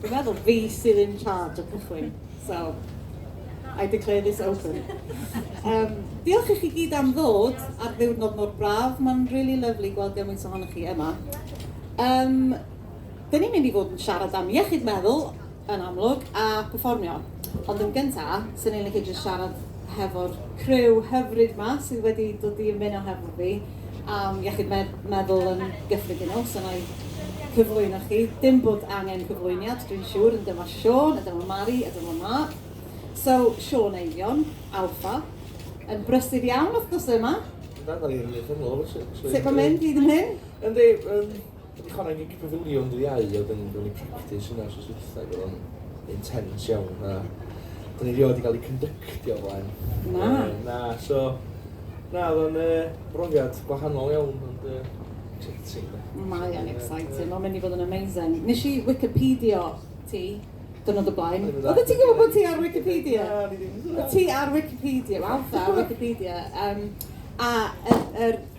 Dwi'n meddwl fi sydd in charge o cychwyn, so I declare this open. Yym, diolch i chi gyd am ddod ar ddiwrnod mor braf, mae'n rili lyfli gweld gymaint ohonoch chi yma. Yym, 'dyn ni'n mynd i fod yn siarad am iechyd meddwl, yn amlwg, a perfformio. Ond yn gynta, 'swn i'n licio jyst siarad hefo'r criw hyfryd 'ma sydd wedi dod i ymuno hefo fi. am iechyd meddwl yn gyffredinol, so wna i cyflwyno chi. Dim bod angen cyflwyniad, dwi'n siŵr, ond dyma Siôn, a dyma Mari, a dyma Mark. So, Siôn Eifion, Alpha, yn brysur iawn wrth gwrs yma. Sut mae'n mynd, hyd yn hyn? Yndi, Fi 'di chwarae gig pafiliwn Ddydd Iau a wedyn ro'n i'n practis hwnna wsos dwytha ag o'dd o'n intense iawn a 'dyn ni rioed 'di ga'l i cynddyctio o flaen. Na? Yy na so na o'dd o'n yy brofiad gwahanol iawn ond yy exciting 'de? Mae o'n exciting, ma'n mynd i fod yn amazing. Nesh i wicipedio ti diwrnod o blaen. Oddet ti'n gwbod bo' ti ar wicipedia? Na o'n i ddim yn gwbod. Ti ar wicipedia, wel ta ar wicipedia yym a yr yr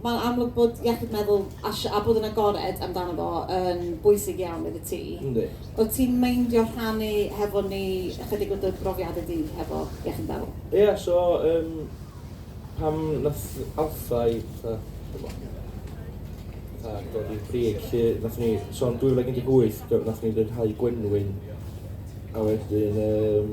Mae'n amlwg bod iechyd meddwl a a bod yn agored amdano fo yn bwysig iawn iddi ti. Yndi. Wyt ti'n meindio rhannu hefo ni ychydig o dy brofiadau di hefo iechyd meddwl? Ia so yym pan nath Alpha i fatha t'mo' fatha dod i'r brig 'lly nathon ni so yn 2018 do- nathon ni ryddhau gwenwyn a wedyn yym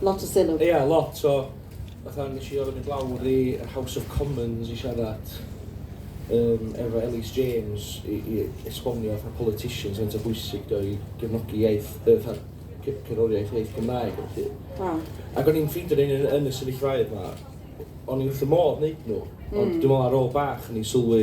Lot o sylw. Ia, lot o... fatha nes i orfod mynd lawr i yr House of Commons i siarad yym efo Elis James i i esbonio fatha politicians faint o bwysig dio i gefnogi iaith yy fatha ce- cerddoriaeth iaith Gymraeg a ballu. Waw. Ac o'n i'n ffeindio o'n i'n yn y sefyllfaoedd 'ma o'n i wrth fy modd neud nhw ond dwi me'wl ar ôl bach o'n i'n sylwi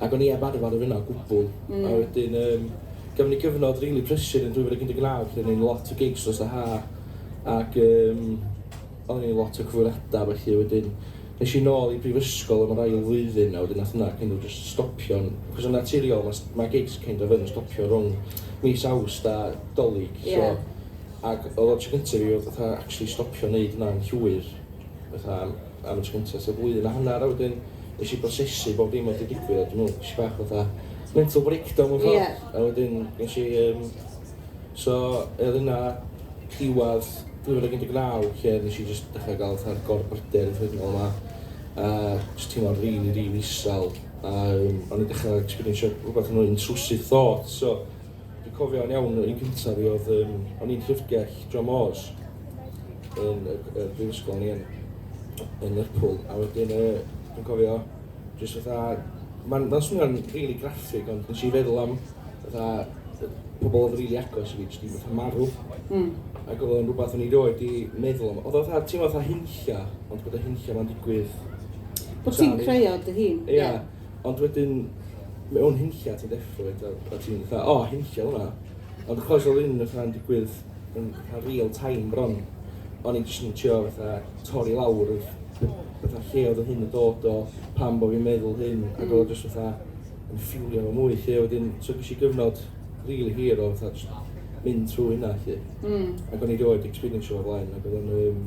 ac o'n i heb arfer efo hynna o gwbl, a wedyn yym gafon ni gyfnod rili prysur yn 2019 lle o'n i'n lot o gigs dros y ha', ac yym oedden ni'n lot o cyfweliadau a ballu, wedyn es i nôl i brifysgol am yr ail flwyddyn a wedyn nath hwnna kind of jyst stopio, achos yn naturiol ma' ma' gigs kind of yn stopio rhwng mis Awst a 'Dolig so ac o'dd o'r tro cynta' i fi fatha actually stopio neud hwnna'n llwyr fatha, am y tro cynta tua blwyddyn a hanner a wedyn nesh i brosesu bob dim o'dd 'di digwydd a dwi me'wl nesh i bach fatha mental breakdown mewn ffordd. Ie. A wedyn nesh i yym so yy o'dd yna diwadd 2019 lle nesh i jyst dechra ga'l fatha'r gorbryder anffernol 'ma a jyst teimlo'n rili rili isel a yym o'n i'n dechra ecsberiensio rwbath mwy intrusive thoughts so Dwi'n cofio'n iawn, yr un cynta fi oedd, um, o'n i'n llyfrgell John Moores yn y, y brifysgol ni yn, yn Lerpwl, a wedyn uh, dwi'n cofio jyst fatha, mae'n ma swnio'n really graffig, ond nes i feddwl am fatha pobl oedd rili agos i fi, jyst i fatha marw. Mm. Ac oedd o'n rhywbeth o'n i roed i meddwl am. Oedd o'n fatha, ti'n fatha hunlla, ond bod y hunlla ma'n digwydd. Bod ti'n creu o dy hun. Ie. Yeah. Ond wedyn, mewn hunlla ti'n deffro i, a ti'n fatha, o, hunlla hwnna. Ond achos oedd un fatha'n digwydd yn fatha real time bron, o'n i'n jyst yn trio fatha torri lawr yr fatha lle oedd hyn yn dod o, pam bod fi'n meddwl hyn, ac oedd o mm. jyst fatha yn ffiwlio fo mwy lle wedyn, so gysi gyfnod really hir o fatha jyst mynd trwy hynna lle. Mm. Ac o'n i rioed experience o'r blaen, ac oedd o'n um,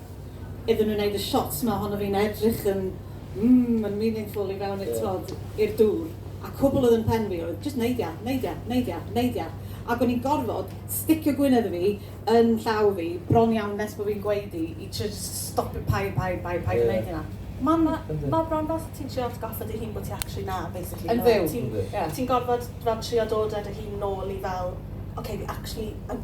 iddyn nhw wneud y shots 'ma ohono fi'n edrych yn mm yn meaningful i fewn i'r t'mod i'r dŵr a cwbl oedd yn pen fi oedd jyst neud ia, neud ia, neud ia, neud ia ac o'n i'n gorfod sticio gwyneb fi yn llaw fi bron iawn nes bo' fi'n gweud i i trio jyst stopio paid, paid, paid, paid wneud hynna. Ma'n ma' bron fel ti'n trio atgoffa dy hun bo' ti actually 'na basically. Yn fyw. Ti'n ti'n gorfod fel trio dod â dy hun nôl i fel ok fi actually yn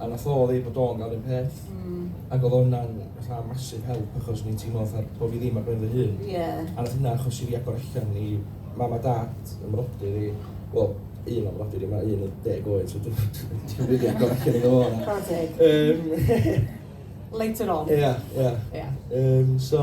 a nath o ddeud bod o'n ga'l un peth ag odd hwnna'n fatha massive help achos o'n i'n teimlo fatha bo fi ddim ar ben fy hun a nath hynna achosi fi agor allan i mam a dad, fy mrodyr i, wel un o'm mrodyr i ma' un yn deg oed so dwi'm yn dwi'm yn rili agor allan iddo fo na. Chwara teg. Yym. Later on. Ia ia. Ia. Yym so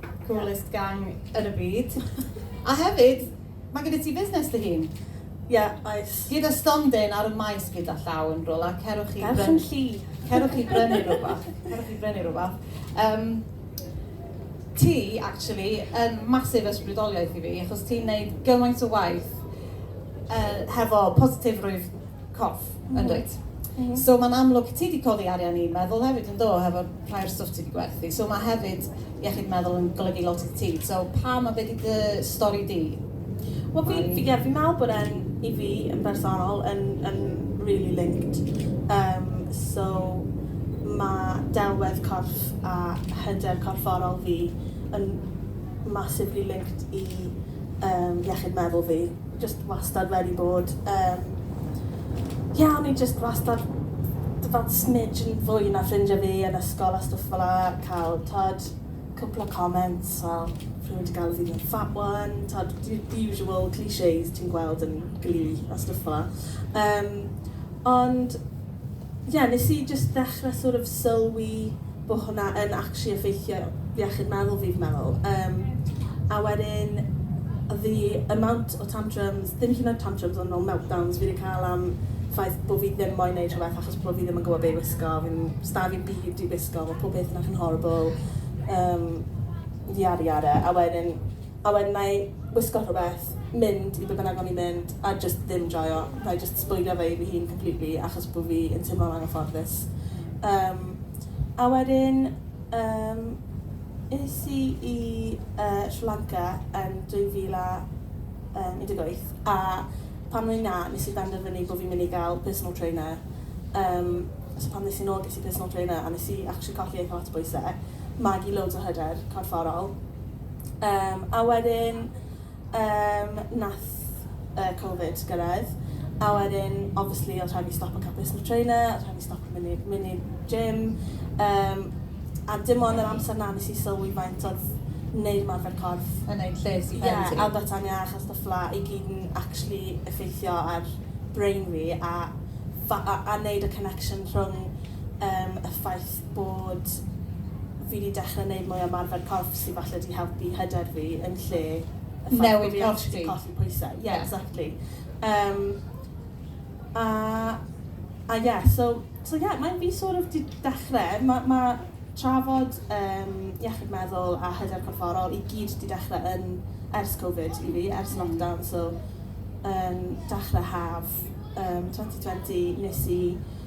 Coolest gang ar y byd. A hefyd, mae gyda ti fusnes dy hun. Ie, oes. Gyda stondin ar y maes gyda llaw yn rwla, cerwch i... Ferch yn llu. ...cerwch i brynu rhywbeth. Cerwch i brynu rhywbeth. Um, ti, actually, yn masif ysbrydoliaeth i fi, achos ti'n neud gymaint o waith uh, hefo positifrwydd corff, mm -hmm. yn dweud. Mm -hmm. So mae'n amlwg, ti wedi codi arian i'n meddwl hefyd yn do, hefo rhai o'r stwff ti wedi gwerthu. So mae hefyd iechyd meddwl yn golygu lot i ti. So pam a be di dy stori di? Wel, fi, fi, yeah, fi meddwl bod e'n, i fi, yn bersonol, yn, yn really linked. Um, so, mae delwedd corff a hyder corfforol fi yn massively linked i um, iechyd meddwl fi. Jyst wastad wedi bod yn ie o'n i jyst wastad fel smidge yn fwy na ffrindiau fi yn ysgol a stwff fel 'a cael t'od cwpl o comments fel rhywun 'di galw fi the fat one t'od the the usual clichés ti'n gweld yn glee a stwff fel 'a. Yym ond ie, nes i jyst ddechre sort of sylwi bo' hwnna yn actually effeithio iechyd meddwl fi fi'n meddwl. Yym a wedyn o'dd the amount o tantrums, ddim hyd yn oed tantrums ond fel meltdowns fi 'di ca'l am ffaith bo' fi ddim moyn neud rhwbeth achos bo' fi ddim yn gwbo be' i wisgo, fi'n, sda fi'm byd i wisgo, ma' pob peth 'na chi'n horrible, yym yada yada a wedyn a wedyn wna i wisgo rhywbeth, mynd i be bynnag o'n i'n mynd a jyst ddim joio. Wna i jyst sbwylio fe i fy hun completely achos bod fi yn teimlo'n anghyfforddus. Yym, a wedyn yym es i i yy Sri Lanka yn 2018 a pan o'n i 'na nes i benderfynu bod fi'n mynd i gael personal trainer. Yym, so pan es i'n ôl ges i personal trainer a nes i actually colli eitha lot o bwyse, magu loads o hyder corfforol. Yym a wedyn yym nath yy covid gyrraedd a wedyn obviously odd rhaid fi stopo ca'l personal trainer odd rhaid fi stopo myn' i myn' i'r gym yym a dim ond yr amser 'na nes i sylwi faint odd neud ymarfer corff yn neud lles i pen ti. Ie a byta'n iach a stwff fela i gyd yn actually effeithio ar brain fi a fa- a a neud y connection rhwng Yym y ffaith bod fi 'di dechre neud mwy o ymarfer corff sy falle 'di helpu hyder fi yn lle y ffaith... Newid corff ti? ...bo' fi actually colli pwyse. Ie exactly. Yym a a ie so so ie mae fi sort of 'di dechre ma' ma' trafod yym iechyd meddwl a hyder corfforol i gyd 'di dechre yn ers Covid i fi, ers lockdown so yn dechre haf yym twenty twenty nes i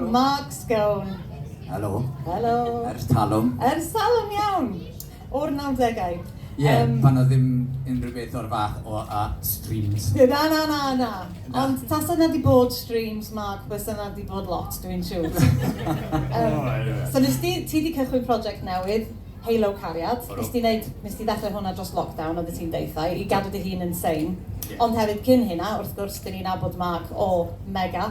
Mark Scone. Helo. Helo. Ers talwm. Ers talwm iawn. O'r nawdegau. Ie, Yym. pan oedd ddim unrhyw beth o'r fath o a streams. Na, na, na, na. Na. Ond tasa 'na 'di bod streams, Mark, bysa 'na 'di bod lot, dwi'n siŵr. Yym. O, ie. So nes di, ti 'di cychwyn project newydd, Halo Cariad. Ydw. Nes di neud, nes di ddechrau hwnna dros lockdown, oeddet ti'n deutha i, i gadw dy hun yn sane. Ie. Ond hefyd cyn hynna, wrth gwrs, 'dyn ni'n nabod Mark o Mega.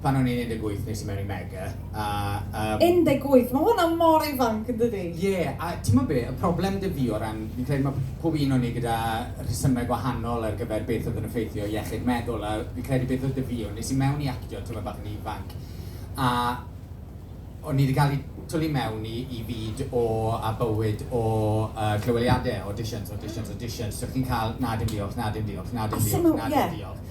pan o'n i'n 18 nes i mewn i Mega a yym... 18? Mae hwnna mor ifanc yn dydi? Ie, a timod be, y problem 'da fi o ran, fi'n credu mae pob un o ni gyda rhesymau gwahanol ar gyfer beth oedd yn effeithio iechyd meddwl a fi'n credu beth oedd 'da fi yw nes i mewn i actio tymed bach yn ifanc a o'n i 'di cael eu twlu mewn i i fyd o a bywyd o yy clyweliadau, auditions, auditions, auditions, so chi'n cael 'na dim diolch, na dim diolch, na dim diolch, na dim diolch'.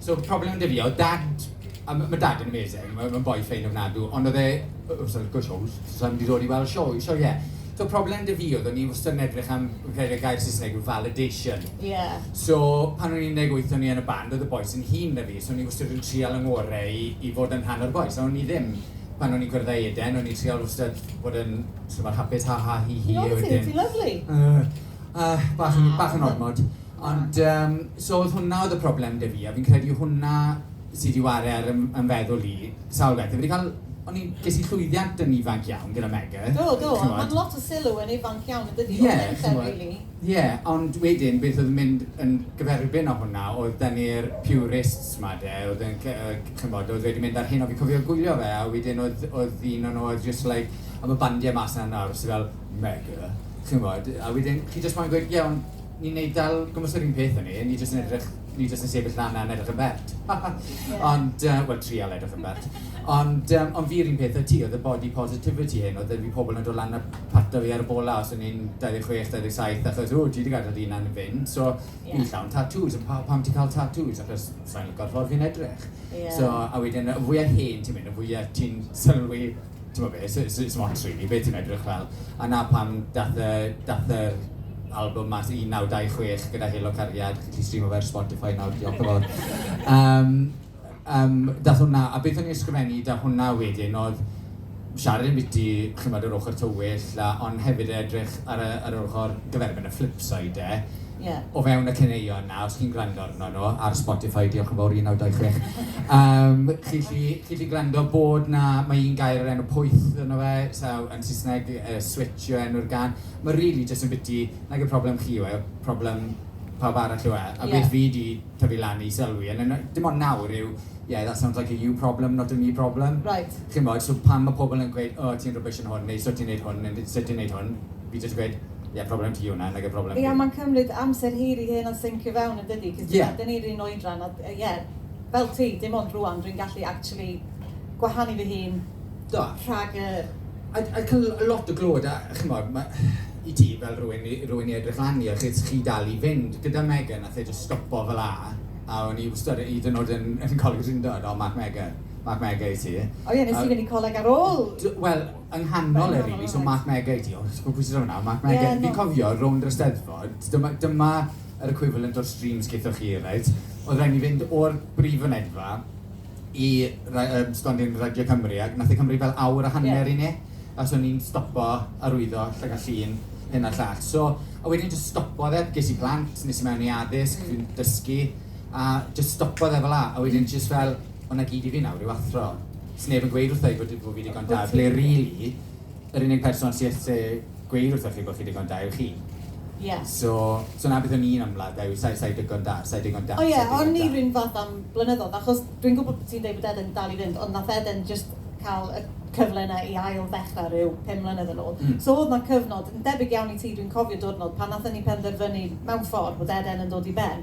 So problem 'da fi oedd dad, a ma' dad yn amazing, ma' ma'n boi ffein ofnadw, ond oedd e, oh oh sorry, go shows, so sai'n mynd i ddod i weld sioe, sioeau. So problem 'da fi oedd o'n i wastad yn edrych am, fi'n credu y gair Saesneg yw validation. Ie. So pan o'n i'n un deg wyth o'n i yn y band, oedd y bois yn hŷn na fi, so o'n i wastad yn trial fy ngorau i i fod yn rhan o'r bois, a o'n i ddim. Pan o'n i'n cwrdd â Eden, o'n i'n trial wastad bod yn sort of fel hapus, ha ha hi hi a wedyn... Ti'n lyfli, ti'n lyfli! Yy yy bach yn bach yn ormod. Ond yym, so oedd hwnna oedd y problem 'da fi, a fi'n credu hwnna sy' 'di ware ar fy fy mfeddwl i sawl beth. Fi 'di cael... o'n i'n... ges i llwyddiant yn ifanc iawn gyda Megg, chimod. Do, do, ma'n lot o sylw yn ifanc iawn, yndydi? Ie, chimod. O'r merched rili. Ie, ond wedyn beth oedd yn mynd yn gyferbyn â hwnna oedd 'da ni'r purists 'ma 'de, oedd yn c- yy c- chimod, oedd wedi mynd ar hyn, a fi'n cofio gwylio fe, a wedyn oedd oedd un o nhw oedd jyst like, a ma' bandiau mas 'na nawr sy' fel, Megg, chimod, a wedyn chi jyst moyn gweud, ie, ond, Ni'n neud fel gwmws yr un peth o'n ni, ni jyst yn edrych... ni jyst yn sefyll lan a yn edrych yn bert. Ond yy wel trial edrych yn bert. Ond yym ond fi yr un peth a ti, oedd y body positivity hyn, oedd 'da fi pobl yn dod lan a pato fi ar y bola os o'n i'n 26, 27 achos ww ti 'di gadael dy hunan yn fynd so fi'n llawn tatŵs a pawb pam ti'n cael tatŵs achos sa i'n lico'r ffordd fi'n edrych so a wedyn y fwya hen ti'n mynd y fwya ti'n sylwi timod be, s- s- sdim ots rili be ti'n edrych fel. A 'na pam daeth y... daeth yr albwm mas 1926 gyda Helo Cariad, chi'n gallu streamo fe ar Spotify nawr, diolch yn fawr. Yym yym daeth hwnna, a beth o'n i'n ysgrifennu 'da hwnna wedyn oedd siarad ambiti, chimod, yr ochr tywyll a... ond hefyd edrych ar y... ar yr ochr gyferbyn, y flip side de. o fewn y caneuon 'na, os chi'n gwrando arno nhw ar Spotify, diolch yn fawr 1926, yym chi 'llu chi 'llu gwrando bod 'na, ma' un gair o'r enw 'pwyth' ynddo fe, so yn Saesneg yy 'switch' yw enw'r gân. Mae rili jyst yn biti, nag yw problem chi yw e, problem pawb arall yw e. A beth fi 'di tyfu lan i sylwi, yn yn dim ond nawr, yw 'yeah, that sounds like a you problem, not a me problem'. Chimod, so pan ma' pobl yn gweud 'o ti'n rubbish yn hwn' neu 'so ti'n neud hwn' neu 'so ti'n neud hwn', fi jyst yn gweud... Ie, problem ti yw hwnna, nage problem fi. Ie, ond mae'n cymryd amser hir i hyn o syncio fewn yn dydi? Cos dyna, dyna ni'r un oedran a ie, fel ti, dim ond rŵan dwi'n gallu actually gwahanu fy hun rhag y... A a cael lot o glod a chimod, ma- i ti fel rhywun i rhywun i edrych lan i achos chi dal i fynd. Gyda Megan nath e jyst stopo fel 'a a o'n i wstod hyd yn oed yn yn Coleg Drindod, o Mark Mega, Mark Mega i ti. O ie, nes ti fynd i coleg ar ôl? Do, wel, Yng nghanol e rili, so Mark Meggie, diolch, nes i gal pwyse draw nawr, Mark Meggie. Ie, na. Fi'n cofio rownd yr Eisteddfod, dyma, dyma yr equivalent o'r streams gaethoch chi, reit? Oedd rhaid ni fynd o'r brif fynedfa i ra- yym, stondin Radio Cymru, ac nath e cymryd fel awr a hanner i ni, achos o'n i'n stopo arwyddo Llygad Llun, hyn a'r llall. So, a wedyn jyst stopodd e, ges i plant, nes i mewn i addysg, dwi'n dysgu, a jyst stopodd e fel'a, a wedyn jyst fel, ond 'na gyd i fi nawr yw athro. Sneb yn gweud wrtha i fod fo fi ddigon da, ble rili, yr unig person sy ese gweud wrtha chi bod chi ddigon da yw chi. Ie. So, so 'na beth o'n i'n ymladd da yw sai, sai digon da, sai digon da, sai digon da. O ie, o'n i 'run fath am blynyddodd, achos dwi'n gwybod bod ti'n deud bod Eden dal i fynd, ond nath Eden jyst ca'l y cyfle 'na i ail ddechra ryw pum mlynedd yn ôl. Mm. So o'dd 'na cyfnod, yn debyg iawn i ti, dwi'n cofio diwrnod pan nathen ni penderfynu, mewn ffordd, bod Eden yn dod i ben.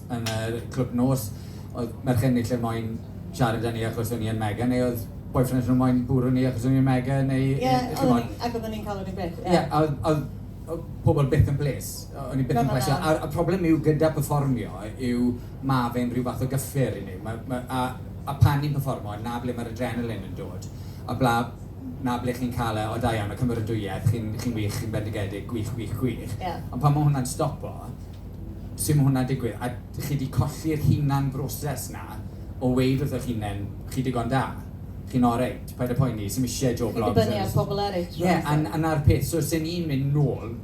yn yr clwb nos oedd merched ni lle moyn siarad â ni achos o'n ni yn mega neu oedd boyfriends nhw moyn bwrw ni achos o'n ni yn mega neu yy ch'mod. Ie oedden ni ac oedden ni'n cael yr un peth ie. Ie a oedd oedd oedd pobl byth yn bles o'n ni byth yn plesio a y problem yw gyda perfformio yw ma' fe'n rhyw fath o gyffur i ni ma' ma' a a pan ni'n perfformo 'na ble ma'r adrenaline yn dod a bla 'na ble chi'n cael e o da iawn y cymeradwyaeth chi'n chi'n wych chi'n bendigedig gwych gwych gwych. Ie. Ond pan ma' hwnna'n stopo sut ma' hwnna'n digwydd? A dych chi 'di colli'r hunan-broses 'na o weud wrtho'ch hunen, chi digon da, chi'n oreit, paid â poeni, sdim isie Joe Bloggs ar... Chi'n dibynnu ar pobl eraill rwan te. Ie, a 'na'r peth. So os 'yn ni'n mynd nôl,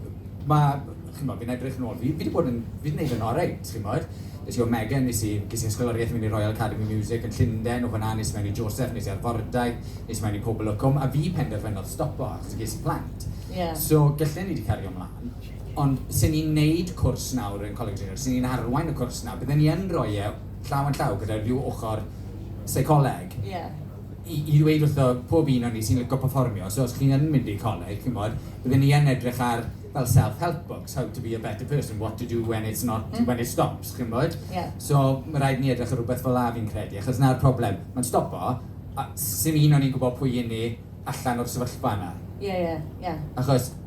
ma', chimod, fi'n edrych nôl, fi fi 'di bod yn, fi 'di neud yn oreit, chimod. Es i o Megan, es i, ges i ysgoloriaeth i mynd i Royal Academy Music yn Llunden, o fan'na nes i mewn i Joseph, nes i Arfordaeth, nes i mewn i Pobol y Cwm, a fi penderfynodd stopo achos ges i plant. Ie. So, gyllen i 'di cario mlan. Ond 'sen ni'n 'neud cwrs nawr yn Coleg Drenewydd, 'sen ni'n arwain y cwrs 'na, bydden ni yn rhoi e llaw yn llaw gyda rhyw ochr seicoleg... Ie... i ddweud wrtho pob un o ni sy'n licio perfformio, so os chi yn mynd i coleg, chimod, bydden ni yn edrych ar fel self-help books, how to be a better person, what to do when it's not, when it stops, chimod? Ie. So, ma' raid i ni edrych ar rywbeth fel 'na fi'n credu, achos 'na'r problem, ma'n stopo, a 'sim un o ni'n gwbod pwy 'yn ni allan o'r sefyllfa 'na. Ie, ie, ie. Achos...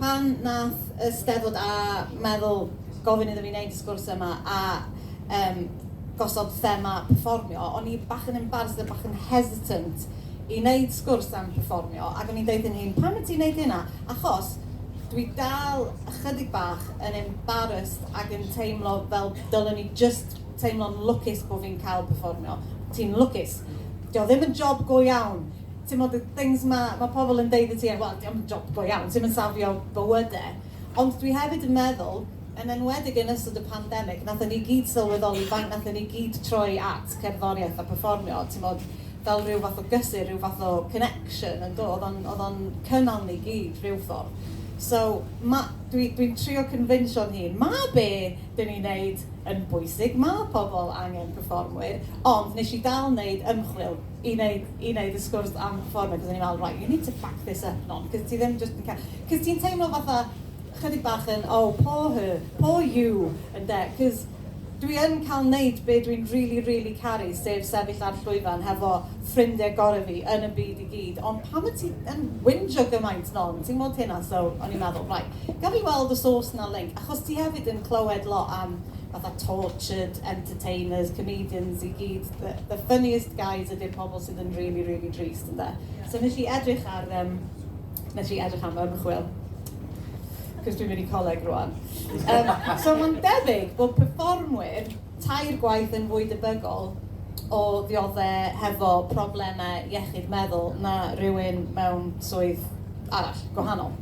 Pan nath y Steddfod a meddwl gofyn iddo fi neud y sgwrs yma a yym gosod thema perfformio, o'n i bach yn embarrassed a bach yn hesitant i neud sgwrs am perfformio ac o'n i'n deud fy nhîm pam wyt ti'n neud hynna? Achos dwi dal ychydig bach yn embarrassed ac yn teimlo fel dylwn i jyst teimlo'n lwcus bo fi'n ca'l perfformio. Ti'n lwcus. Dio ddim yn job go iawn. timod y things 'ma ma' pobl yn deud i ti, wel, dio'm yn job go iawn, ti'm yn safio bywydau. E. Ond dwi hefyd yn meddwl, yn enwedig yn ystod y pandemig, nathon ni gyd sylweddoli faint nathon ni gyd troi at cerddoriaeth a perfformio, timod, fel rhyw fath o gysur, rhyw fath o connection, yn do? Oedd o'n oedd o'n cynnal ni gyd, rhyw ffordd. So, ma'... dwi dwi'n trio cynfinsio'n hun, ma' be' dyn ni'n neud yn bwysig, ma' pobl angen perfformwyr, ond nes i dal neud ymchwil, i neud i neud y sgwrs am ffordd achos o'n i'n meddwl right you need to back this up non achos ti ddim jyst yn ca- achos ti'n teimlo fatha chydig bach yn oh poor her, poor you ynde achos dwi yn cael neud be dwi'n rili rili caru sef sefyll ar llwyfan hefo ffrindiau gorau fi yn y byd i gyd ond pam wyt ti yn whinjo gymaint non ti'n gwybod hynna so o'n i'n meddwl right gawn ni weld os oes 'na link achos ti hefyd yn clywed lot am fatha tortured entertainers, comedians i gyd, the the funniest guys ydy'r pobl sydd yn really really drist ynde? So wnes i edrych ar yym wnes i edrych am fy ymchwil cos dwi'n mynd i coleg rwan. Um, so mae'n debyg bod perfformwyr tair gwaith yn fwy debygol o ddioddau hefo problemau iechyd meddwl na rhywun mewn swydd arall, gwahanol.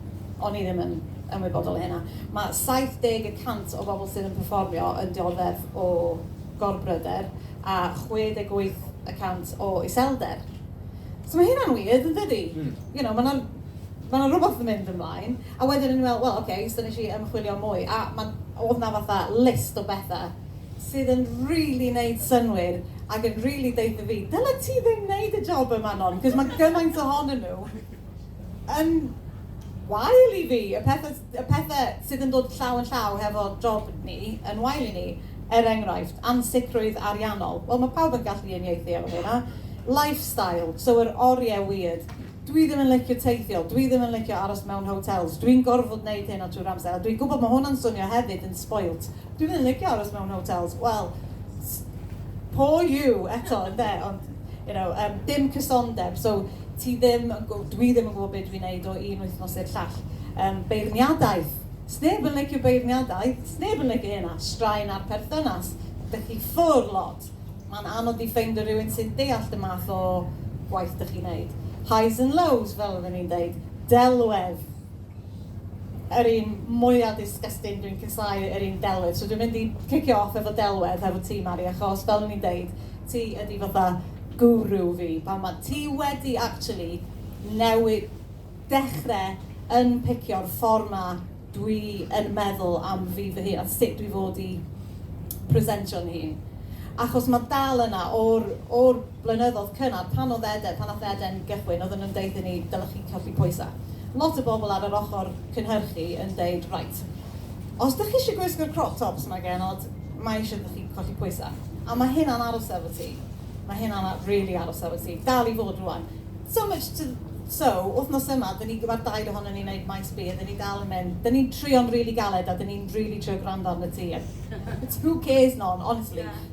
O'n i ddim yn ymwybodol o hynna. Mae 70 y cant o bobl sydd yn perfformio yn dioddef o gorbryder a 68 y cant o iselder. So mae hynna'n weird, yn dydi? Mm. You know, mae yna ma yna rhywbeth yn mynd ymlaen. A wedyn ni'n meddwl, wel, oce, okay, so nes i ymchwilio mwy. A mae, oedd na fatha list o bethau sydd yn really neud synwyr ac yn really deitha fi, dyla ti ddim neud y job yma non, cos mae gymaint ohonyn nhw. yn wael i fi, y pethau, y pethau sydd yn dod llaw yn llaw hefo job ni yn wael i ni. Er enghraifft, ansicrwydd ariannol. Wel, mae pawb yn gallu uniaethu efo hynna. Lifestyle, so yr oriau weird. Dwi ddim yn licio teithio, dwi ddim yn licio aros mewn hotels, dwi'n gorfod wneud hyn o trwy'r amser. A dwi'n gwybod mae hwnna'n swnio hefyd yn spoilt. Dwi ddim yn licio aros mewn hotels. Wel, poor you eto, ynde, ond you know, um, dim cysondeb. So, Ti ddim yn gwybod, dwi ddim yn gwybod be dwi'n neud o un wythnos i'r llall. Yym, beirniadaeth! Sneb yn licio beirniadaeth, sneb yn licio hynna, straen ar perthynas, dych chi ffwr lot. Ma'n anodd i ffeindio rywun sy'n deallt y math o gwaith dych chi'n neud. Highs and lows, fel oedden ni'n deud. Delwedd! Yr un mwya disgusting dwi'n casau yr un delwedd so dwi'n mynd i cicio off efo delwedd hefo ti Mari achos fel o'n i'n deud ti ydi fatha guru fi pan ma' ti wedi actually newi- dechre yn picio'r ffor ma dwi yn meddwl am fi fy hun a sut dwi fod i presentio'n hun achos ma' dal yna o'r o'r blynyddodd cynnar pan odd Eden, pan nath Eden gychwyn odden nhw'n deud i ni dylech chi colli pwysa. Lot o bobl ar yr ochor cynhyrchu yn deud reit os dych chi isio gwisgo'r crop tops ma genod mae isio iddo chi colli pwysa. A ma hynna'n aros efo ti. Ma hynna'n a- rili aros efo ti. Dal i fod rwan. So much to so wthnos yma dyn ni gyma'r dair ohonon ni neud maes B a dyn ni dal yn mynd dyn ni'n trio'n rili galed a dyn ni'n rili trio gwrando arnot ti a who cares non honestly.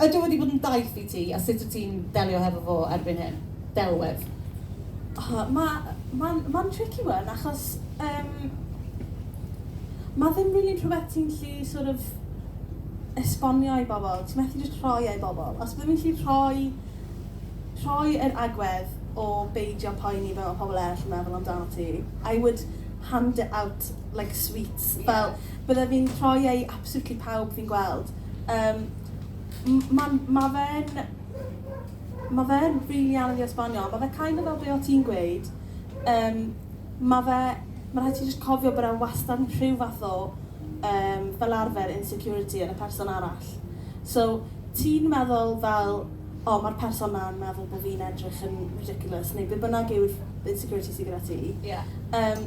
Ydy o wedi bod yn daith i ti a sut wyt ti'n delio hefo fo erbyn hyn? Delwedd. O, mae, mae'n, mae'n tricky one achos um, mae ddim rili really rhywbeth ti'n lli sort of esbonio i bobl, ti'n methu jyst rhoi ei bobl. Os byddwn i'n lli rhoi, rhoi yr agwedd o beidio poeni fel mae pobl eraill yn meddwl amdano ti, I would hand it out like sweets. Yeah. Fel, byddaf fi'n rhoi ei absolutely pawb fi'n gweld. Yym, m- ma'n... ma' fe'n... ma' fe'n rili anodd i esbonio, ond ma' fe kind of fel be' o' ti'n gweud, yym, ma' fe... ma' rhaid ti jyst cofio bod e wastad yn rhyw fath o yym fel arfer insecurity yn y person arall. So, ti'n meddwl fel, 'O, ma'r person 'na yn meddwl bo' fi'n edrych yn ridiculous' neu be' bynnag yw'r insecurity sy gyda ti. Ie. Yym.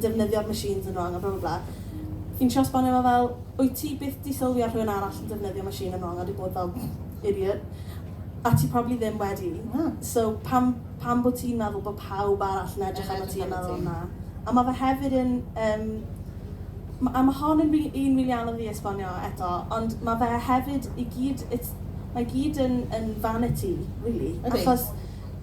defnyddio'r machines yn wrong a blablabla. Fi'n trio esbonio fo fel, wyt ti byth 'di sylwi ar rhywun arall yn defnyddio machine yn wrong a 'di bod fel pfft, idiot. A ti probably ddim wedi, so pam pam bo' ti'n meddwl bo' pawb arall yn edrych arnot ti a meddwl 'na'. A ma' fe hefyd yn yym m- a ma' hon yn rili un rili anodd i esbonio eto, ond ma' fe hefyd i gyd it's mae gyd yn yn vanity rili achos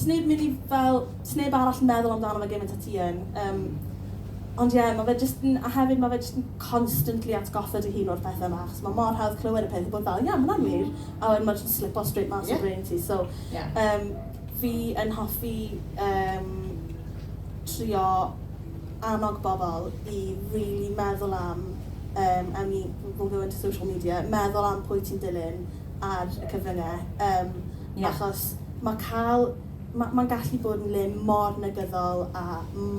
Sneb mynd i fel, sneb arall meddwl amdano fe gymaint a ti yn. Yym, ond ie, ma' fe jyst yn... A hefyd ma' fe jyst yn constantly atgoffa dy hun o'r pethe 'ma, achos ma' mor hawdd clywed y peth a bod fel, ie, ma' hwnna'n wir, a wedyn ma' jyst yn slipo straight mas o brain ti. So, yym, fi yn hoffi, yym, trio annog bobl i rili meddwl am, yym, I mean, we'll go into social media, meddwl am pwy ti'n dilyn, ar y cyfrynge yym achos ma cael ma ma'n gallu bod yn le mor negyddol a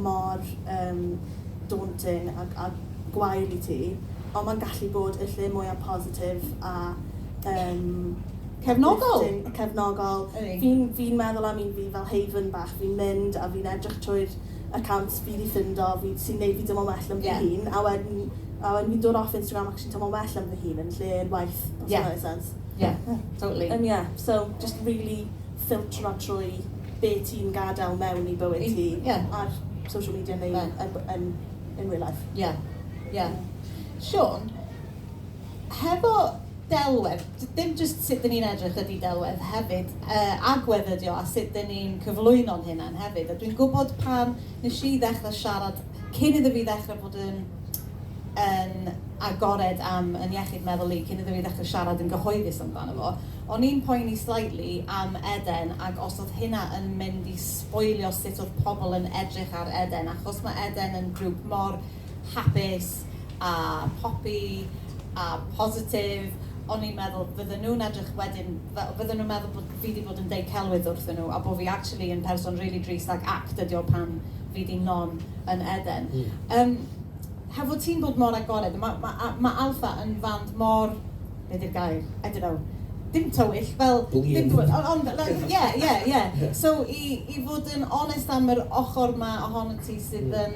mor yym daunting a a gwael i ti ond ma'n gallu bod y lle mwya positif a yym cefnogol uplifting cefnogol fi'n fi'n meddwl am un fi fel haven bach fi'n mynd a fi'n edrych trwy'r account fi 'di ffindo fi sy'n gwneud fi teimlo'n well am fy hun. Ie. A wedyn, a wedyn fi'n dod off Instagram ac actually'n teimlo'n well am fy hun yn lle waeth, os hwnna'n wneud sens. Ie, totally. Yym ie, so jyst rili ffiltro trwy be ti'n gadael mewn i bywyd ti... I-... ie. ...ar social media neu... Ie. ...yn b- yn in real life. Ie, ie. Siôn? Hefo delwedd, dim jyst sut dyn ni'n edrych ydy delwedd hefyd, agwedd ydy o a sut dyn ni'n cyflwyno'n hunain hefyd. A dwi'n gwybod pan nes i ddechrau siarad, cyn iddo fi ddechrau bod yn yn agored am yn iechyd meddwl i, cyn iddo fi ddechrau siarad yn gyhoeddus amdano fo, o'n i'n poeni slightly am Eden ac os oedd hynna yn mynd i sboilio sut oedd pobl yn edrych ar Eden achos mae Eden yn grŵp mor hapus a popi a positif, o'n i'n meddwl fydden nhw'n edrych wedyn fel, fydden nhw'n meddwl bod fi 'di bod yn deud celwydd wrthyn nhw a bod fi actually yn person rili drist ac act ydi o pan fi 'di non yn Eden. Yym, hefo ti'n bod mor agored, ma' ma' a- ma' Alpha yn fand mor, be 'di'r gair, I don't know, dim tywyll, fel, dim tywyll, ond ond fel like, ie, ie, ie, so i i fod yn onest am yr ochr 'ma ohonot ti sydd yn...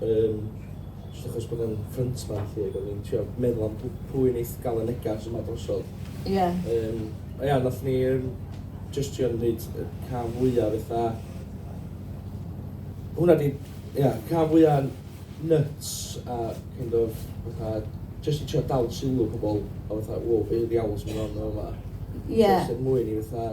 Yym, jyst achos bod e'n ffrynt man lly ac o'n i'n trio meddwl am pw- pwy neith ga'l y negas yma drosodd. Ie. Yym, a ia, nath ni yym jyst trio neud y cam fwya fetha... Hwnna 'di, ia, cam fwya nyts a kind of fatha jyst i trio dal sylw pobl a fatha wow be' ddiawl sy'n myn' on yn fama? Ie. Jyst er mwyn i fatha...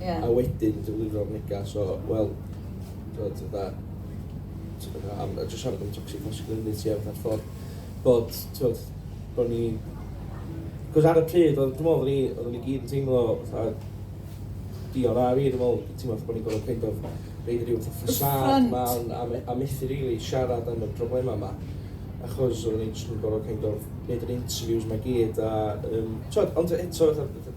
Ie. A wedyn yn defnyddio'r negas o, wel, t'mod, fatha, t- fatha am, a jyst siarad am toxic masculinity a fatha'r ffordd bod, t'mod, bo' ni... 'C'os ar y pryd, oedd, dwi'n meddwl, oedden ni, oedden ni gyd yn teimlo fatha Dion a fi, dwi'n meddwl, teimlo fatha bod ni'n gorfod kind of roid ryw fatha ffasâd mawr a me- a methu rili siarad am y problemau 'ma, achos oedden ni jyst yn gorfod kind of neud yr interviews 'ma i gyd a, yym, t'mod, ond eto fatha, fatha,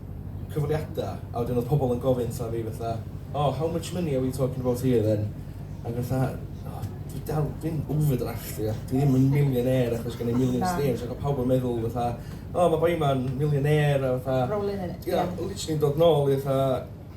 cyfweliada a wedyn oedd pobl yn gofyn wrtha fi fatha o how much money are we talking about here then ac o'n i fatha o dwi dal fi'n overdraft fi ac dwi ddim yn millionaire achos gen i million streams ac oedd pawb yn meddwl fatha o ma' boi ma'n millionaire a fatha... Rolling in it ie. ...literally yn dod nôl i fatha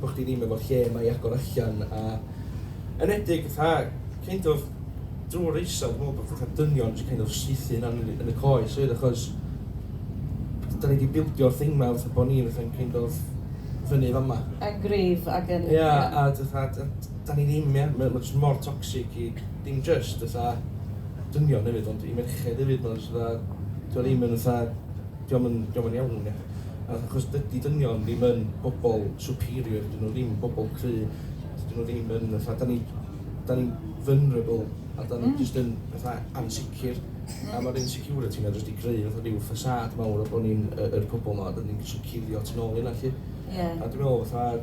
bo chdi ddim efo lle na i agor allan a enedig fatha kind of drw'r raeso dwi me'wl bo fatha dynion jyst kind of saethu hunan yn yn y coes oedd achos da ni di bildio thing ma fatha bo ni fatha'n kind of fyny fama. Yn gryf ag yn ia. Ia a dy fatha da da ni ddim ia ma' ma' jyst mor toxic i dim jyst fatha dynion efyd ond i merched efyd ma' jyst fatha dio ddim yn fatha Dio'm yn, dio'm yn iawn ia. Achos dydi dynion ddim yn bobl superior, dyn nhw ddim yn bobl cry, dydyn nhw ddim yn fatha, da ni, da ni'n vulnerable a da ni jyst yn fatha ansicr. A ma'r insecurity na jyst di greu fatha rhyw facade mawr o bo ni'n y yr pobl ma, da ni'n jyst yn cuddio tu nôl i hynna lly. Ie. A dwi me'wl fatha,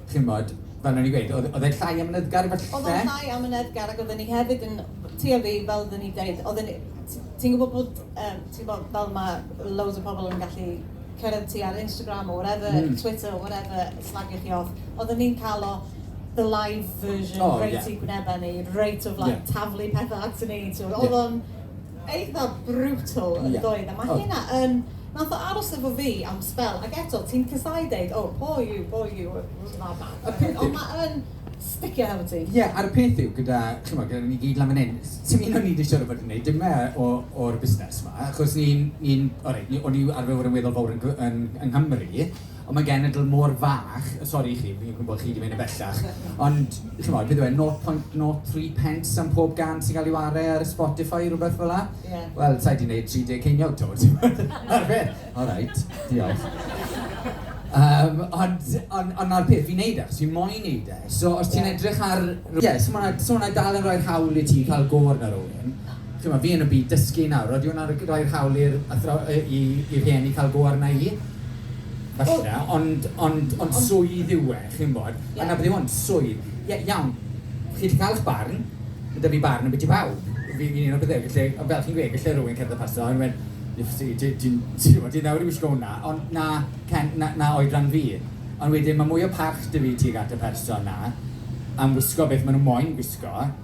chimod, fel o'n i'n gweud, oedd oedd e'n llai amynyddgar falle? Oedd o'n llai amynyddgar ac oedden ni hefyd yn trio fi, fel oedden ni'n deud, oedden ni... ti'n gwybod bod, yym, ti'n gwybod, fel mae loads o pobl yn gallu cyrraedd ti ar Instagram or whatever, Twitter or whatever, slagio chi off. Oedden ni'n cael o the live version reit i'n gwynebau ni, reit of like taflu pethau ato ni, ti'n gwybod, oedd o'n... eitha brutal yn yeah. doedd a mae oh. hynna yn nath o aros efo fi am sbel ac eto ti'n casau deud oh poor you poor you that man ond mae'n sticio hefo ti. Ie, yeah, a'r peth yw gyda, chi'n gwybod, gyda ni gyd lan fan hyn, sy'n un o'n ni wedi siarad bod yn gwneud dim e o'r busnes yma, achos ni'n, ni, ni o'n i arfer fod yn weddol fawr yn, yn, yng Nghymru, Ond mae genedl mor fach, sori i chi, fi'n gwybod chi 'di mynd yn bellach, ond chimod, beth yw e, 0.03 pence am pob gân sy'n cael ei ware ar Spotify, rhywbeth fel 'na? Ie. Wel, sa i 'di neud 30 ceiniog 'to, t'mod? Ma'r peth. Alright, diolch. Yym, ond on- ond 'na'r peth, fi'n neud e achos fi moyn neud e. So, os ti'n edrych ar... Ie, so ma' 'na, so ma' 'na dal yn rhoi'r hawl i ti cael go arno rywun. Chimod, fi yn y byd dysgu nawr, odi hwnna'n r- roi'r hawl i'r athraw- yy i i rhieni cael go arna i? falle, ond, ond, ond swydd yw e, chi'n gwybod, a 'na beth yw hwn, swydd. Ie, iawn, chi 'llu cael eich barn, ma' 'da fi barn ambiti bawb, fi'n un o'r pethau, felly, ond fel chi'n gweud, gallai rywun cerdded paso a dweud, Lifty, ti, ti'n, ti'n gwybod, ti nawr i wisgo hwnna, ond 'na cen, 'na, 'na oedran fi. Ond wedyn, mae mwy o parch 'da fi tuag at y person 'na am wisgo beth maen nhw moyn gwisgo,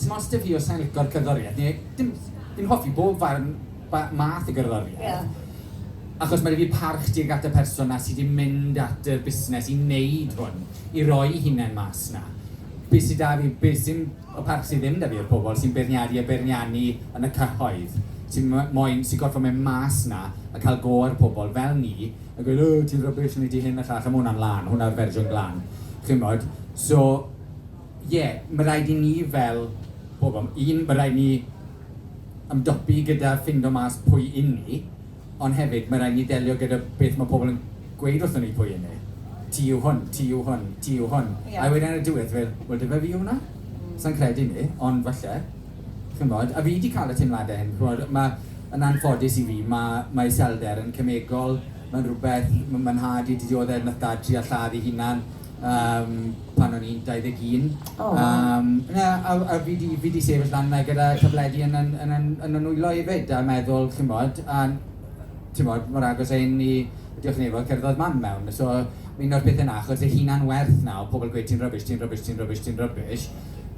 Dim ots 'da fi os sai'n licio'r cerddoriaeth neu dim, fi'n hoffi bob farn, ba- math o gerddoriaeth. Ie. Achos mae 'da fi parch tuag at y person 'na sy' 'di mynd at y busnes i wneud hwn, i roi'i hunain mas 'na. Be' sy 'da fi, be' sy'n... Y parch sy' ddim 'da fi yw'r pobl sy'n beirniadu a beirniannu yn y cyhoedd, sy m- moyn, sy' gorfod mynd mas 'na a cael go ar pobl fel ni a gweud 'O ti'n rubbish, wnei di hyn a llall' a ma' hwnna'n lân, hwnna'r fersiwn glân, chimod. So... Ie, mae rhaid i ni fel pobl, un, mae rhaid i ni ymdopi gyda ffindo mas pwy y'n ni, ond hefyd mae rhaid i ni ddelio gyda beth mae pobl yn gweud wrthon ni pwy y'n ni. Ti yw hwn, ti yw hwn, ti yw hwn. Ie. A wedyn ar y diwedd ti fel, wel dyfe fi yw hwnna? Sai'n credu 'ny, ond falle. Ch'mod? A fi 'di ca'l y teimlade hyn, ch'mod, ma', yn anffodus i fi, ma' ma' iselder yn cemegol, ma'n rwbeth, ma' ma' nhad i 'di diodde' nath dad trial lladd 'i hunan, Yym, pan o'n i'n 21. O! Yym, na, a w- a fi 'di fi 'di sefyll lan 'na gyda tabledi yn 'yn yn 'yn yn 'y nwylo efyd a meddwl, chimod, a t'mod, mor agos a hyn i Diolch i Nebo cerddodd Mam mewn. So, un o'r pethe 'na, achos y hunan-werth 'na o pobl gweud ti'n rubbish, ti'n rubbish, ti'n rubbish, ti'n rubbish,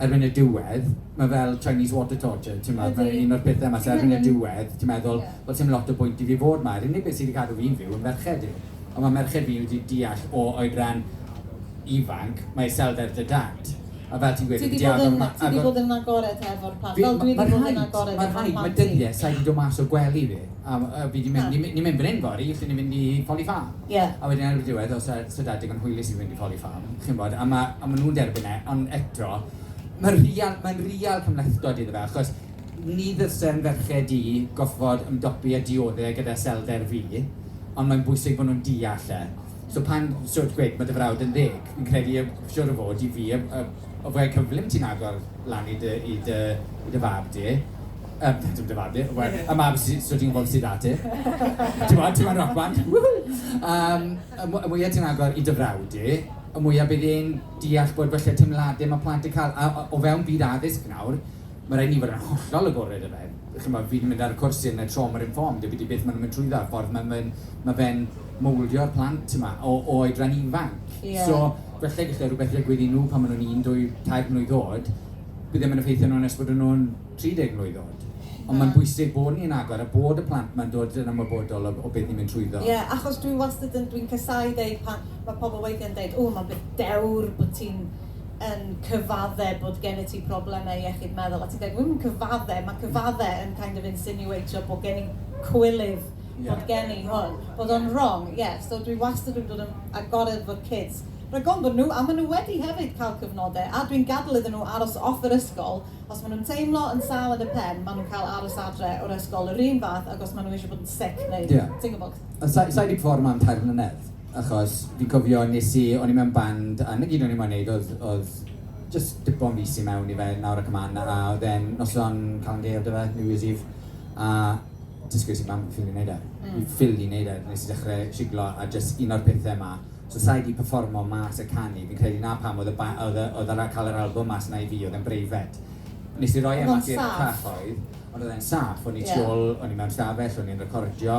erbyn y diwedd, ma' fel Chinese water torture, t'mod? Ydi. Mae un o'r pethe 'ma, so erbyn y diwedd, ti'n meddwl, wel, 'sdim lot o bwynt i fi fod 'ma. Yr unig beth sy 'di cadw fi'n fyw yn ferched i. Ond mae merched fi wedi deall o oedran ifanc, mae iselder dy dad, a fel ti'n gweud, yn diawl fel ma- Ti 'di bod yn agored hefo'r plant, fel dwi 'di bod yn agored efo mam-gu. Mae rhaid, mae dyddiau, sa i 'di dod mas o gwely fi, a fi 'di mynd, ni'n mynd fan hyn fory, allen ni fynd i Folly Farm. Ie. A wedyn erbyn diwedd, os sa sa dad digon hwylus i fynd i Folly Farm, chi'n gwybod, a ma' a ma' nhw'n derbyn e, ond eto, mae'n rhial, mae'n rhial cymhlethdod iddo fe, achos, Ni ddylsem ferched du gorfod ymdopi a diodde gyda iselder fi, ond mae'n bwysig bod nhw'n deall e. So pan so gwed ma dy frawd yn ddeg, fi'n credu y siŵr o fod i fi y y y fwya cyflym ti'n agor lan i dy i dy i dy fab di, yym dim dy fab di, y fwya y mab sy so ti'n gwbod sy da ti, t'mod ti moyn roc band, woo-hoo! Yym y mw- y mwya ti'n agor i dy frawd di, y mwya bydd e'n deall bod falle teimlade ma plant yn ca'l a o o fewn byd addysg nawr, Mae rhaid i ni fod yn hollol agored, efe. Ch'mod, fi 'di mynd ar y cwrs sydd yn y trauma informed a fi 'di beth ma' nhw'n mynd trwyddo a'r ffordd ma' fe'n ma' fe'n mowldio plant yma o o oedran ifanc. Ie. So, falle gelle rhywbeth ddigwydd i nhw pan ma' nhw'n un, dwy, tair mlwydd oed, bydd e ddim yn effeithio nhw nes bod y nhw'n 30 mlwydd oed. Ie. Ond mae'n bwysig bod ni'n agor a bod y plant ma'n dod yn ymwybodol o o beth ni'n mynd trwyddo. Ie, achos dwi wastad yn, dwi'n casau deud pan ma' pobl weithie'n deud, ww, ma'n beth dewr bod ti'n yn cyfaddef bod gennyt ti problemau iechyd meddwl, a ti'n dweud, dwi'm yn cyfaddef, mae cyfaddef yn kind of insinuatio bod gen i cwilydd, bod gen i hwn, bod o'n wrong, ie, so dwi wastad wedi bod yn agored efo'r kids, rhag ofn bod nhw, a maen nhw wedi hefyd cael cyfnodau, a dwi'n gadael iddyn nhw aros off yr ysgol, os maen nhw'n teimlo yn sâl yn y pen, maen nhw'n cael aros adre o'r ysgol yr un fath ag os maen nhw eisiau bod yn sick neu ti'n gwybod. Sa i wedi ffordd mam tair mlynedd. achos fi'n cofio wnes i... o'n i mewn band a 'na gyd o'n i moyn wneud oedd oedd jyst dipo'n fis i mewn i fe nawr ac ymlaen a oedd e'n noson Calan Gaeaf 'da fe, New Year's Eve a jyst ges i mam ffili wneud e, fi ffili wneud e, wnes i ddechrau siglo a jyst un o'r pethau 'ma, so sa i 'di perfformo mas a canu fi'n credu 'na pam oedd y ba- oedd y oedd yr a- cael yr albwm mas 'na i fi oedd e'n breifat. Wnes i roi e mas i'r cyhoedd ond oedd e'n saff, o'n i tu ôl, o'n i mewn stafell, o'n i'n recordio.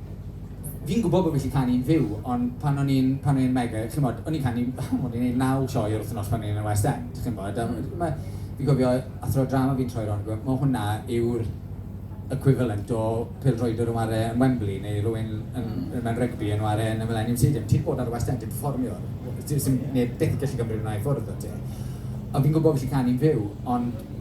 Fi'n gwybod bod fi gallu canu'n fyw, ond pan o'n i'n... pan o'n i'n mega, chimod, o'n i'n canu... o'n i'n wneud naw sioe yr wythnos pan o'n i yn y West End, chimod. A m- ma'... fi'n cofio athro drama fi'n troi rownd a gweud, 'ma hwnna yw'r equivalent o pêl-droediwr yn ware yn Wembley neu rywun yn... mewn rygbi yn ware yn y Millennium Stadium. Ti 'di bod ar y West End yn perfformio, ti... 'sdim neb byth yn gallu cymryd hwnna i ffwrdd o ti. A fi'n gwybod bod fi gallu canu'n fyw, ond...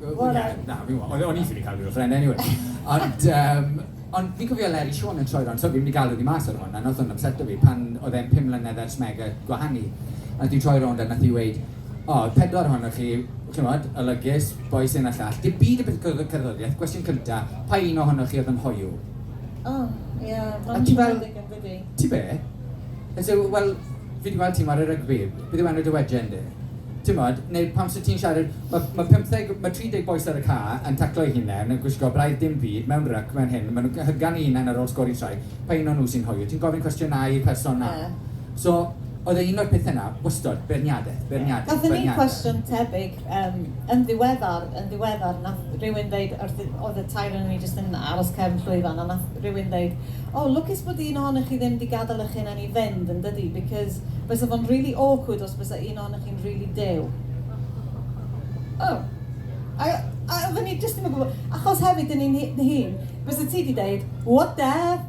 Ie, na, fi'n gwybod. O'n o'n i ffili cael rhyw offerynnau eniwe. Ond yym, ond fi'n cofio Eleri Siôn yn troi rownd, so fi'n mynd i galw hi mas ar hwn, a wnaeth hwn ypseto fi, pan oedd e'n pum mlynedd ers mega gwahanu. A wnaeth hi troi rownd a wnaeth hi weud, O, y pedwar ohonoch chi, chimod, olygus, bois hyn a llall, dim byd yn byth yn cerddoriaeth, cwestiwn cynta, pa un ohonoch chi oedd yn hoyw? O, ie, ma' hwnna'n ddigon gwir. Ti be? And so, well, fi di gweld ti'n ware rygbi, beth yw enw dy wejen di? Timod, neu pam sy'n ti'n siarad, mae ma 50, mae 30 boes ar y ca yn taclo i hunain, yn gwisgo braidd dim byd, mewn ryc, mewn hyn, maen nhw'n hygan i hunain ar ôl sgori trai, pa un o'n nhw sy'n hoio, ti'n gofyn cwestiynau i person na. So, oedd e un o'r pethau yna, wastod, beirniadaeth, beirniadaeth, beirniadaeth. Gafon ni cwestiwn tebyg Yym, yn ddiweddar, yn ddiweddar, nath rywun ddeud wrth i-... oedd y tair ohonon ni jyst yn aros cefn llwyfan, a nath rywun ddeud, O, lwcus bod un ohonoch chi ddim 'di gadael eich hunain i fynd, yn dydi, because bysa fo'n rili awkward os bysa un ohonoch chi'n rili dew. O! A a oedden ni jyst ddim yn gwybod, achos hefyd yn ein hun, bysa ti 'di deud, What def!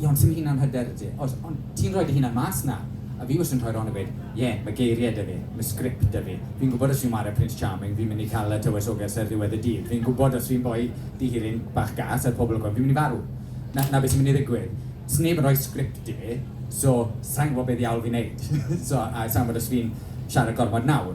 Ie, ond sdim hunan hyder 'da ti. Oes, ond ti'n rhoi dy hunan mas 'na. A fi wastad yn troi rownd a gweud, Ie, ma' geirie 'da fi, ma' sgript 'da fi. Fi'n gwbod os fi'n ware Prince Charming, fi'n mynd i ca'l y tywysoges ar ddiwedd y dydd. Fi'n gwbod os fi'n boi dihiryn bach gas ar pobl y gwan, fi'n mynd i farw. 'Na, 'na be' sy'n mynd i ddigwydd. Sneb yn rhoi sgript i fi, so sai'n gwbod be' ddiawl fi'n neud. so, a sai'n gwbod os fi'n siarad gormod nawr.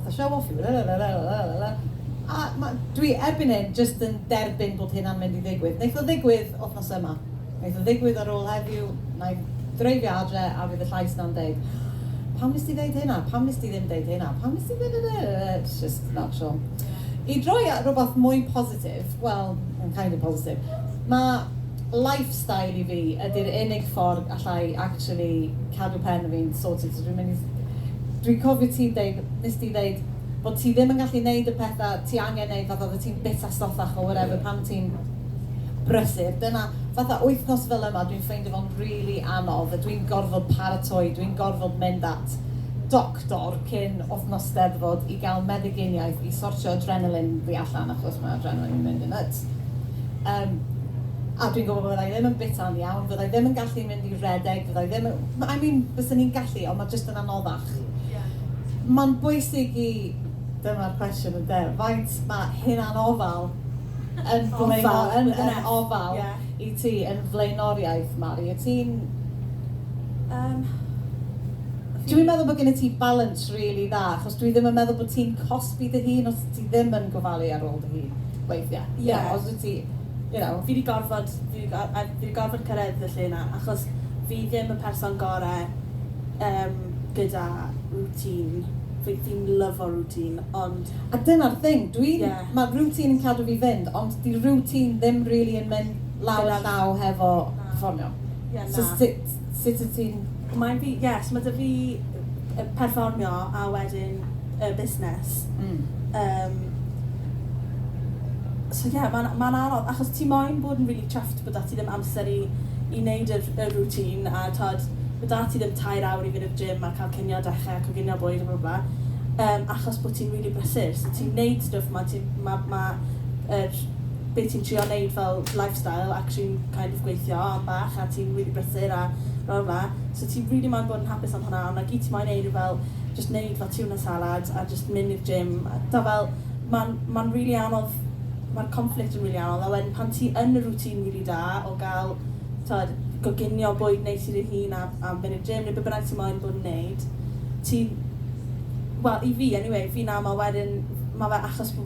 A show off yw lalalalalala. A ma- dwi erbyn hyn jyst yn derbyn bod hyn am mynd i ddigwydd. Neith o ddigwydd wthnos yma. Neith o ddigwydd ar ôl heddiw, nai dreifio adre a fydd y llais na'n deud Pam nes ti ddeud hynna? Pam nes ti ddim deud hynna? Pam nes ti dadadadada? It's just that Siôn. I droi at rwbath mwy positif, wel, mae'n kind of positif. Ma' Lifestyle i fi ydi'r unig ffordd allai actually cadw pen fi'n sorted so dwi'n mynd i... Dwi'n cofio ti'n deud, nes di ddeud bod ti ddim yn gallu neud y petha ti angen neud fatha oeddet ti'n bita stoffach or whatever pan ti'n brysur, dyna fatha wythnos fel yma dwi'n ffeindio fo'n rili anodd a dwi'n gorfod paratoi, dwi'n gorfod mynd at doctor cyn wythnos 'Steddfod i gael meddyginiaeth i sortio adrenaline fi allan achos mae adrenaline yn mynd yn nyts. Yym, a dwi'n gwybod fydda i ddim yn bita'n iawn, fydda i ddim yn gallu mynd i redeg, fydda i ddim yn... I mean, fyswn i'n gallu, ond mae jyst yn anoddach. Mae'n bwysig i... Dyma'r cwestiwn ynde, faint mae hunanofal yn blaenor- yn yn ofal i ti, yn flaenoriaeth, Mari? Wyt ti'n... Yym, dw i'n meddwl bod gennyt ti balans rili dda, achos dwi ddim yn meddwl bod ti'n cosbi dy hun os ti ddim yn gofalu ar ôl dy hun. weithiau. Ie. You know, os wyt ti, you know, fi 'di gorfod, fi 'di go- a fi 'di gorfod cyrraedd y lle 'na achos fi ddim y person gore yym gyda routine. Fi fi'n lyfo routine ond... A dyna'r thing, dwi... Ie. ...ma' routine yn cadw fi fynd ond 'di routine ddim rili yn mynd law a llaw hefo perfformio. Ie, na. So sut... sut wyt ti'n... Mae fi, ie, so mae 'da fi y perfformio a wedyn y busnes. Mm. Um, so ie, yeah, mae'n ma anodd, achos ti moyn bod yn really chuffed bod dati ddim amser i, i wneud y, y routine, a tod, bod dati ddim tair awr i fynd i'r gym a cael cynio dechrau a coginio bwyd a bla bla, um, achos bod ti'n really brysur. So ti'n wneud stwff ma, ti'n, ma, ma, er, be ti'n trio neud fel lifestyle ac ti'n kind of gweithio am bach a ti'n rili brysur a blah blah blah so ti rili moyn bod yn hapus am hwnna ond na gyd ti moyn neud yw fel jyst neud fel tuna salad a jyst mynd i'r gym a tibod fel ma'n ma'n rili anodd ma'r conflict yn rili anodd a wedyn pan ti yn y routine rili da o ga'l tibod goginio bwyd neis i dy hun a a mynd i'r gym neu be bynnag ti moyn bod yn neud ti'n wel i fi anyway fi'n aml wedyn ma' fe achos bo'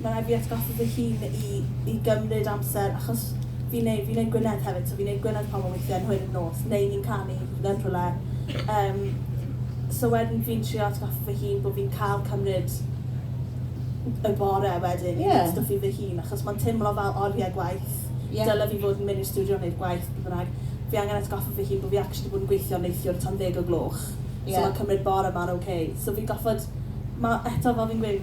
Mae'n rhaid fi atgoffa fy hun i i gymryd amser achos fi'n neu- fi'n neud Gwynedd hefyd so fi'n neud Gwynedd pobl weithie yn hwyr yn nos neu ni'n canu yn rhywle yym so wedyn fi'n trio atgoffa fy hun bo' fi'n ca'l cymryd y bore wedyn i neud stwff i fy hun achos ma'n timlo fel orie gwaith dyle fi fod yn myn' i'r stiwdio neud gwaith beth bynnag fi angen atgoffa fy hun bo' fi actually bod yn gweithio neithiwr tan ddeg o gloch so ma'n cymryd bore ma'n ok so fi'n goffod ma' eto fel fi'n gweud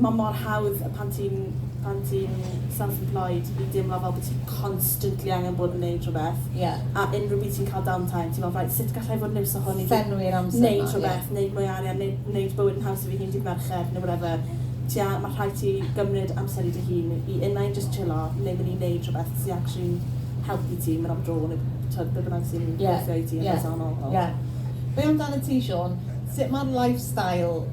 Mae mor hawdd pan ti'n pan ti'n self employed i deimlo fel bod ti constantly angen bod yn neud rhywbeth. Ie. A unrhyw bryd ti'n cael down time ti'n meddwl reit sut gallai fod yn iws o hwn i fi... Llenwi'r amser 'na ie. ...neud rhywbeth, neud mwy o arian neu neud bywyd yn haws i fy hun dydd Mercher neu whatever. Ti a- ma' rhaid ti gymryd amser i dy hun i unai jyst chillo neu mynd i neud rhywbeth sy actually'n helpu ti mynd am dro neu t'od be' bynnag sy'n... Ie. ...gweithio i ti yn bersonol. Ie. Ie. Be' amdanat ti Siôn? Sut ma'r lifestyle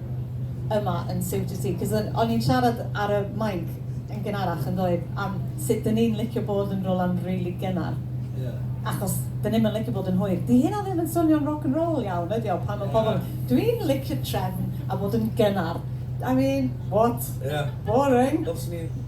yma yn Siwtio Ti, cos o'n o'n i'n siarad ar y mic yn gynharach yn doedd am sut dyn ni'n licio bod yn rwla'n rili gynnar. Ie. Achos dyn ni'm yn licio bod yn hwyr. Di hynna ddim yn swnio'n rock and roll iawn ydi o pan ma' pobl yn dwi'n licio trefn a bod yn gynnar. I mean, what? Ie. Boring. Fel swn i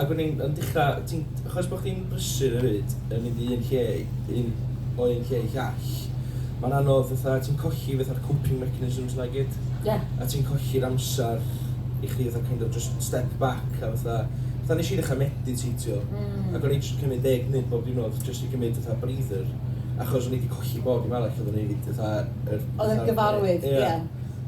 Ac o'n i'n dechrau, ti'n, achos bod chdi'n brysur hefyd, yn mynd i un lle, un, o un lle i llall, mae'n anodd fatha, ti'n colli fatha'r coping mechanisms 'na i gyd. Ie. A ti'n colli'r amser i chdi fatha kind of just step back a fatha, fatha nes i ddechrau mediteitio. Mm. Ac o'n i jyst yn cymryd deg munud bob diwrnod jyst i gymryd fatha breather, achos o'n i 'di colli bob dim arall oeddwn i 'di fatha yr... Oedd yn gyfarwydd, ie.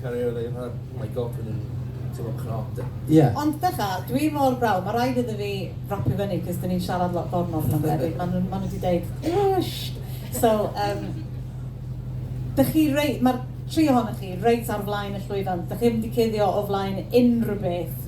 Cario Elin Hwel. Oh my God, dwi'n teimlo'n cnot de. Ie. Ond ddecha, dwi mor browd, mae rhaid iddo fi rapio fyny, cos dyn ni'n siarad lot bore ma pan debyg, maen nhw, maen nhw di deud, wwsht! So, um, dych chi rei, mae'r tri ohonoch chi reit ar flaen y llwyfan, dych chi ddim di cuddio o flaen unrhyw beth.